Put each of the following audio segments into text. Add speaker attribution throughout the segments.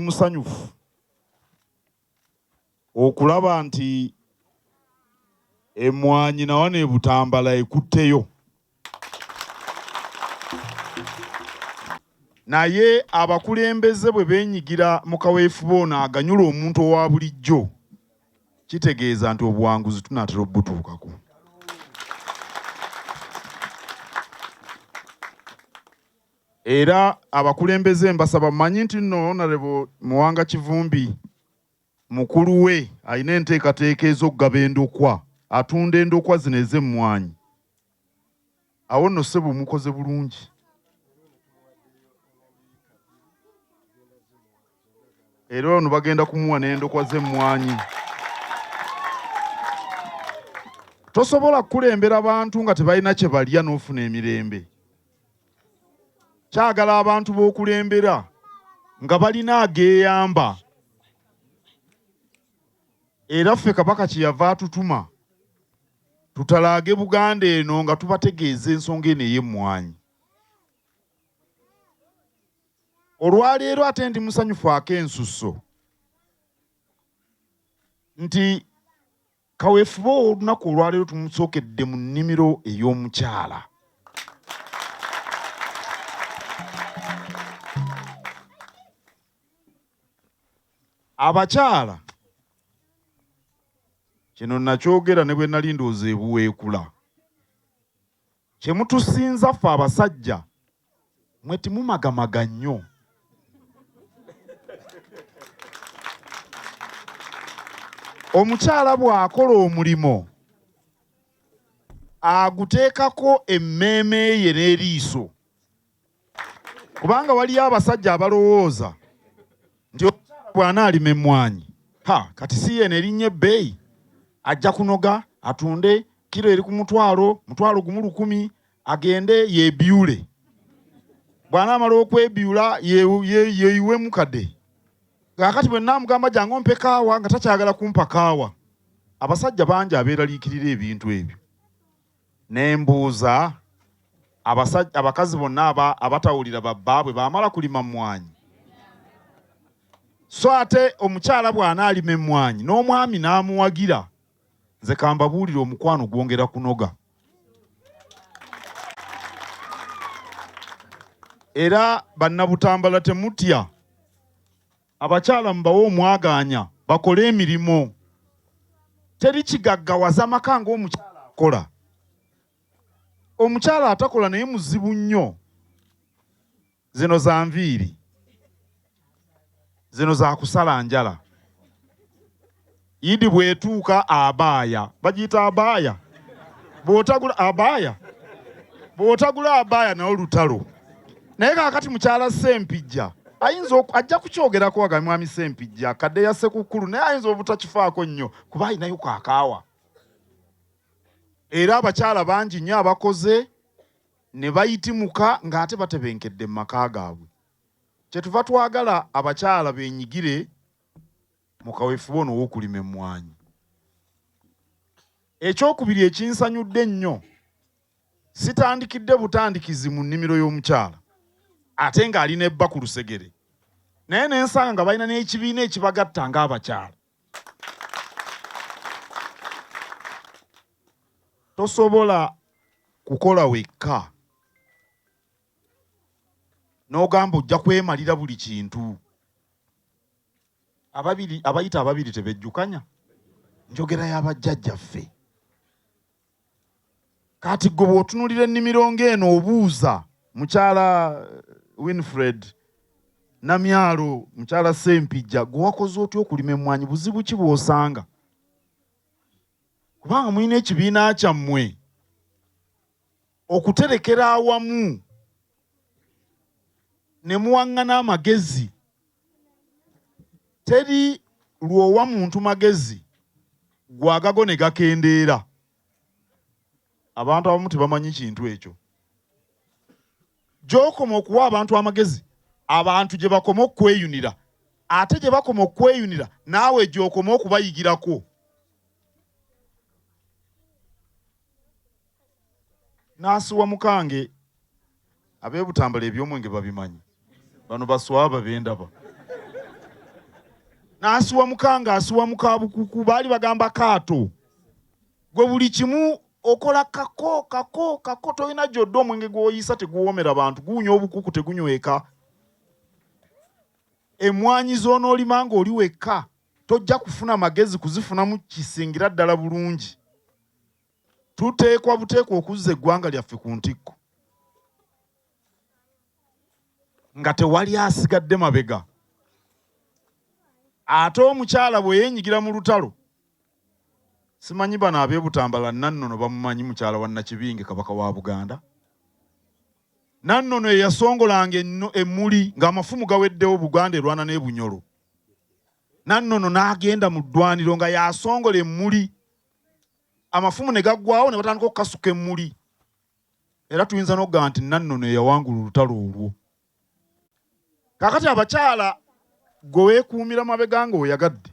Speaker 1: musanyufu okulaba nti emwanyi nawa nebutambala ekutteyo naye abakulembeze bwe benyigira mu kaweefube ono aganyula omuntu owa bulijjo kitegeeza nti obuwanguzi tunatera obutuukako Era abakulembeze mbasaba mmanyi nti nno Honourable Muwanga Kivumbi mukulu we alina enteekateeka ez'okugaba endokwa, atunda endokwa zino ez'emmwanyi. Awo nno ssebo mukoze bulungi. Era ono bagenda kumuwa n'endokwa z'emmwanyi. Tosobola kukulembera bantu nga tebalina kye balya n'ofuna emirembe. kyagala abantu b'okulembera nga balina ageeyamba era ffe kabaka kye yava atutuma tutalaage buganda eno nga tubategeeza ensonga eno ey'emmwanyi olwaleero ate ndi musanyufu akensusso nti Kaweefube ow'olunaku olwaleero tumusookedde mu nnimiro ey'omukyala. Abakyala kino nakyogera ne bwe nali ndowooza ebuweekula. Kyemutusinza ffe abasajja mwe timumagamaga nnyo. Omukyala bw'akola omulimo aguteekako emmeeme ye n'eriiso kubanga waliyo abasajja abalowooza nti omukyala bw'anaalima emmwanyi ha kati si yeeno erinnya ebbeeyi ajja kunoga atunde kiro eri ku mutwalo mutwalo gumu lukumi agende yeebyule bw'anaamala okwebyula yeeyiwemu kade kaakati bwe nnaamugamba jangu ompe kaawa nga takyagala kumpa kaawa abasajja bangi abeeraliikirira ebintu ebyo Ne mbuuza abasajja, abakazi bonna aba, abatawulira babbaabwe baamala kulima mmwanyi? So ate omukyala bw'anaalima emmwanyi n'omwami n'amuwagira, nze kambabuulire omukwano gwongera kunoga. Era Bannabutambala temutya. Abakyala mubawe omwagaanya bakole emirimu. Teri kigaggawaza maka ng'omukyala akola. Omukyala atakola naye muzibu nnyo. Zino za nviiri. Zino za kusala njala. Yidi bwetuuka abaaya bagiyita abaaya bwotagula abaaya bwotagula abaaya nawo lutalo naye kakati mukyala sempijja ayinza ajja kukyogerako waga mwami sempijja kadde ya sekukkulu naye ayinza obutakifaako nnyo kuba alinayo kakaawa era abakyala bangi nnyo abakoze ne bayitimuka ng'ate batebenkedde mu maka gaabwe kyetuva twagala abakyala benyigire mu kaweefube ono ow'okulima emmwanyi. Ekyokubiri ekinsanyudde ennyo sitandikidde butandikizi mu nnimiro y'omukyala ate ng'ali ne bba ku lusegere naye ne nsanga nga balina n'ekibiina ekibagatta ng'abakyala. Tosobola kukola wekka. n'ogamba ojja kwemalira buli kintu. Ababiri abayita ababiri tebejjukanya njogera ya bajjajjaffe. Kati gwe bw'otunulira ennimiro ng'eno obuuza mukyala eh, Winfred Namyalo, mukyala Sempijja, gwe wakoze otya okulima emmwanyi? Buzibu ki bw'osanga? Kubanga mulina ekibiina kyammwe. okuterekera awamu ne muwaŋŋana amagezi teri lw'owa muntu magezi gwe agago ne gakendeera abantu abamu tebamanyi kintu ekyo gy'okoma okuwa abantu amagezi abantu gye bakoma okukweyunira ate gye bakoma okukweyunira naawe gy'okoma okubayigirako Nasiwa mukange abebutambala ebyomwenge babimanyi bano baswaba bendaba nasiwa mukange asiwa mukabukuku baali bagamba kaato gwe buli kimu okola kako kako kako tolina gyodda omwenge gwoyisa teguwomera bantu guwunya obukuku tegunyweka emwanyi zonolima nga oli wekka tojja kufuna magezi kuzifunamu kisingira ddala bulungi Tuteekwa buteekwa okuzza eggwanga lyaffe ku ntikko nga tewali asigadde mabega. Ate omukyala bwe yeenyigira mu lutalo, simanyi bano ab'e Butambala Nannono bamumanyi mukyala wa Nakibinge Kabaka wa Buganda? Nannono eyasongolanga emmuli ng'amafumu gaweddewo Buganda erwana n'e Bunyolo. Nannono n'agenda mu ddwaniro nga yasongola emmuli amafumu ne gaggwawo ne batandika okukasuka emmuli era tuyinza n'okugamba nti nannono eyawangula olutalo olwo kakati abakyala gwe weekuumira mabega nga oyagadde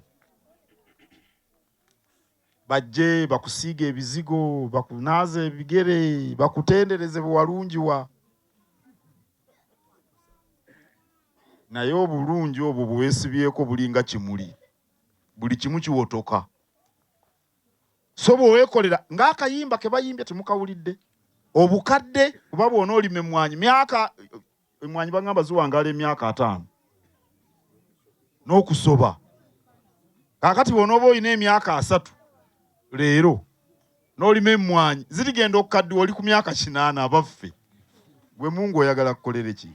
Speaker 1: bajje bakusiiga ebizigo bakunaaza ebigere bakutendereze bwewalungiwa naye obulungi obwo bwewesibyeko bulinga kimuli buli kimu kiwotoka so bwe weekolera ng'akayimba ke bayimbye temukawulidde obukadde oba bwona olima emmwanyi myaka emmwanyi bagamba ziwangaala emyaka ataano n'okusoba kaakati bwona oba olina emyaka asatu leero n'olima emmwanyi zirigenda okukaddiwa oli ku myaka kinaana abaffe gwe mungu oyagala kukolere ki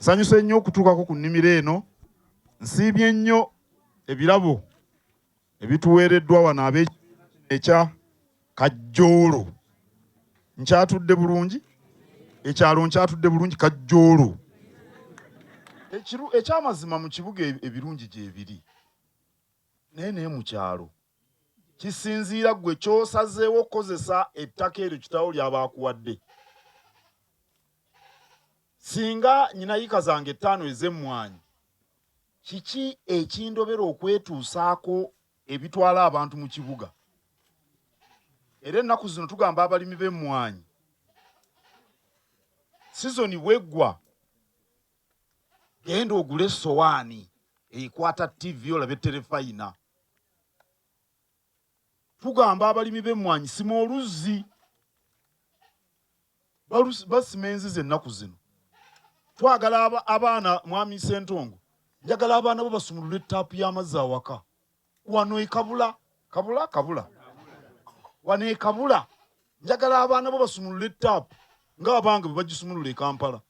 Speaker 1: sanyusa ennyo okutuukako ku nnimiro eno Nsiimye nnyo ebirabo ebituweereddwa wano ab'ekibiina kino ekya Kajjoolo. Nkyatudde bulungi? Ekyalo nkyatudde bulungi Kajjoolo? Ekyamazima mu kibuga e-, ebirungi gyebiri naye naye mu kyalo kisinziira gwe kyosazeewo okukozesa ettaka eryo kitawo lyaba akuwadde. Singa nyina yika zange ttaano ez'emmwanyi, kiki ekindobera okwetuusaako ebitwala abantu mu kibuga? Era ennaku zino tugamba abalimi b'emmwanyi, sizoni bw'eggwa, genda ogule essowaani ekwata ttivi olabe Terefayina. Tugamba abalimi b'emmwanyi sima oluzzi. Basima enzizi ennaku zino. Twagala abaana, Mwami Ssentongo, njagala abaana bo basumulule ttaapu y'amazzi awaka. Wano e Kabula, Kabula? Kabula. Wano e Kabula njagala abaana bo basumulule ttaapu ng'abange bwe bagisumulula e Kampala.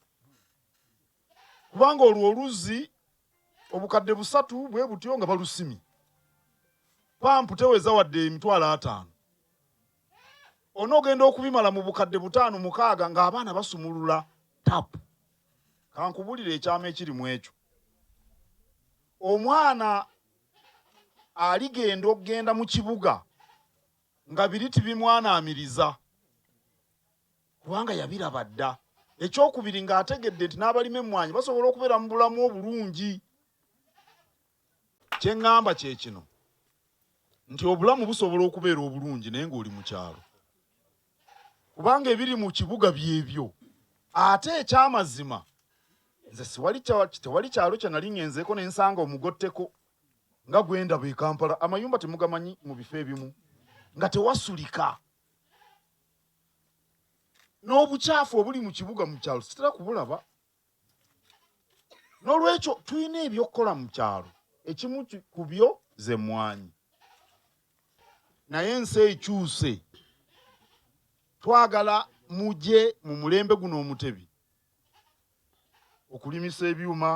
Speaker 1: kubanga olwo oluzzi obukadde busatu bwe butyo nga balusimye pampu teweza wadde emitwalo ataano onoogenda okubimala mu bukadde butaano mukaaga ng'abaana basumulula tapu kankubulire ekyama ekiri mu ekyo omwana aligenda okugenda mu kibuga nga biri tibimwanaamiriza kubanga yabiraba dda. Ekyokubiri ng'ategedde nti n'abalima emmwanyi basobola okubeera mu bulamu obulungi. Kye ŋŋamba kye kino nti obulamu busobola okubeera obulungi naye ng'oli mu kyalo, kubanga ebiri mu kibuga byebyo. Ate ekyamazima nze siwali tewali kyalo kye nali ŋŋenzeeko ne nsanga omugotteko nga gwe ndaba e Kampala. Amayumba temugamanyi mu bifo ebimu nga tewasulika. n'obukyafu obuli mu kibuga mu kyalo sitera kubulaba n'olwekyo tulina ebyokukola mu kyalo ekimu ku byo ze mmwanyi naye ensi ekyuse twagala muje mu mulembe guno omutebi okulimisa ebyuma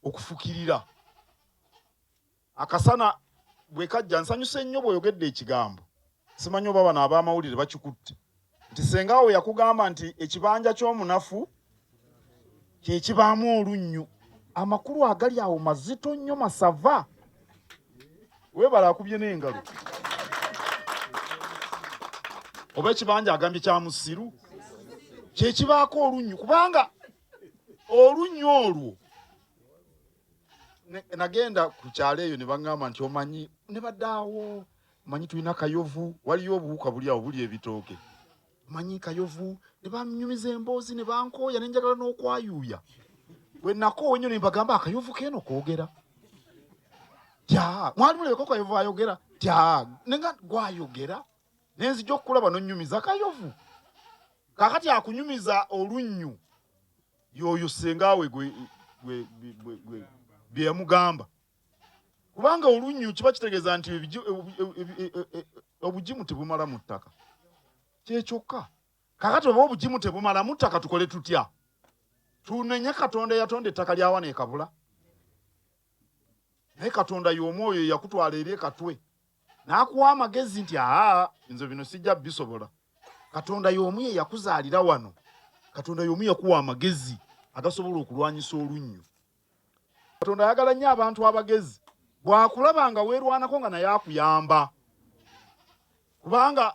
Speaker 1: okufukirira Akasana bwe kajja nsanyuse nnyo bw'oyogedde ekigambo. Simanyi oba bano ab'amawulire bakikutte nti ssenga wo yakugamba nti ekibanja ky'omunafu kye kibaamu olunnyu. Amakulu agali awo mazito nnyo masava. Weebale akubye n'engalo. Oba ekibanja agambye kya musiru kye kibaako olunnyu kubanga olunnyu olwo nagenda ku kyalo eyo ne baŋŋamba nti omanyi ne badaawo manyi tulina kayovu waliyo obuwuka buli awo buli ebitooke manyi kayovu ne banyumiza emboozi ne bankooya ne njagala n'okwayuuya bwe nakoowa ennyo ne mbagamba akayovu keeno koogera tya mwali mulebeko kayovu ayogera tya ne nga gwayogera ne nzija okukulaba nonnyumiza kayovu kakati akunyumiza olunnyu yoyo senga we gwe gwe gwe gwe bye yamugamba kubanga olunnyu kiba kitegeeza nti obugimu tebumala mu ttaka kyekyokka kakati oba obugimu tebumala mu ttaka tukole tutya tunenye katonda eyatonda ettaka lyawa nekabula naye katonda yomu oyo eyakutwala eri ekatwe N'akuwa amagezi nti, Aa, nze bino sijja bisobola. Katonda y'omu ye yakuzaalira wano. Katonda y'omu yakuwa amagezi agasobola okulwanyisa olunnyo. Katonda ayagala nnyo abantu abagezi. Bw'akulaba nga weerwanako nga naye akuyamba. Kubanga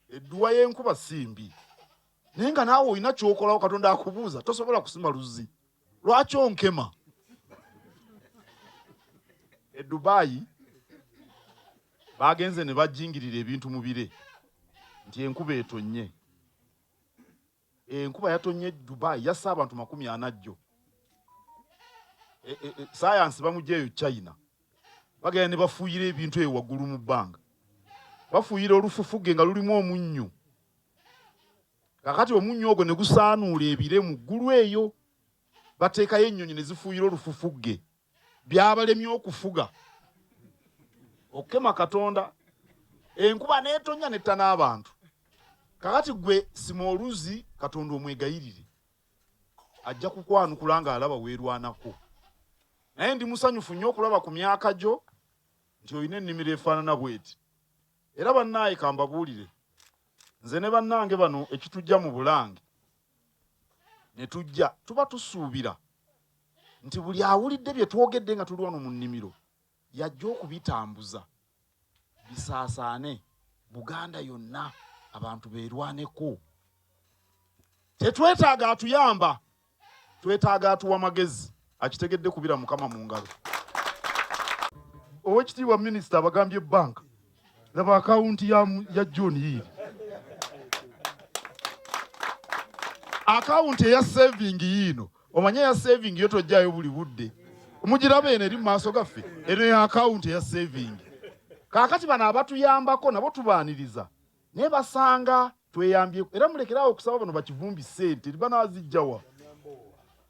Speaker 1: edduwa y'enkuba si mbi. Naye nga naawe olina ky'okolawo, Katonda akubuuza, tosobola kusima luzzi. lwaki onkema e dubayi bagenze ne bajingirira ebintu mu bire nti enkuba etonnye enkuba yatonnye dubayi yassa abantu makumi ana jjo e, e, e, sayansi bamugyeyo china bagenda ne bafuuyira ebintu eyo waggulu mu bbanga bafuuyira olufufuge nga lulimu omunnyo Kakati omunnyo ogwo ne gusaanuula ebire mu ggulu eyo, bateekayo ennyonyi ne zifuuyira olufufugge. Byabalemye okufuga, okukema Katonda. Enkuba n'etonnya n'etta n'abantu. Kakati ggwe sima oluzzi Katonda omwegayirire. Ajja kukwanukula nga alaba weerwanako. Naye ndi musanyufu nnyo okulaba ku myaka gyo nti olina ennimiro efaanana bw'eti. Era bannaaye kambabuulire, nze ne bannange bano ekitujja mu Bulange ne tujja, tuba tusuubira nti buli awulidde bye twogedde nga tuli wano mu nnimiro yajja okubitambuza bisaasaane Buganda yonna abantu beerwaneko. Tetwetaaga atuyamba twetaaga atuwa magezi akitegedde kubira mukama mu ngalo owekitiibwa minisita abagambye banka laba akawunti ya john yiiri akawunti eya savingi yiino omanye eya savingi yo tojjayo buli budde omugiraba eno eri mu maaso gaffe eno ya akawunti eya savingi kaakati bano abatuyambako nabo tubaaniriza Naye basanga tweyambyeko era mulekere awo okusaba bano bakivumbi ssente banazijjawa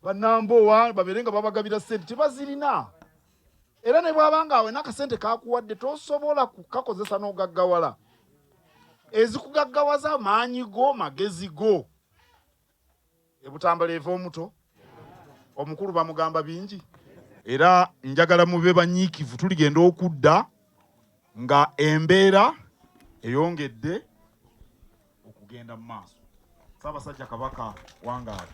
Speaker 1: banambowa babeere nga babagabira ssente tebazirina era ne bwaba nga awena akasente kakuwadde tosobola kukakozesa n'ogaggawala ezikugaggawaza maanyi go magezi go ebutambala eva omuto omukulu bamugamba bingi era njagala mube banyiikivu tuligenda okudda nga embeera eyongedde okugenda mu maaso saabasajja kabaka wangaali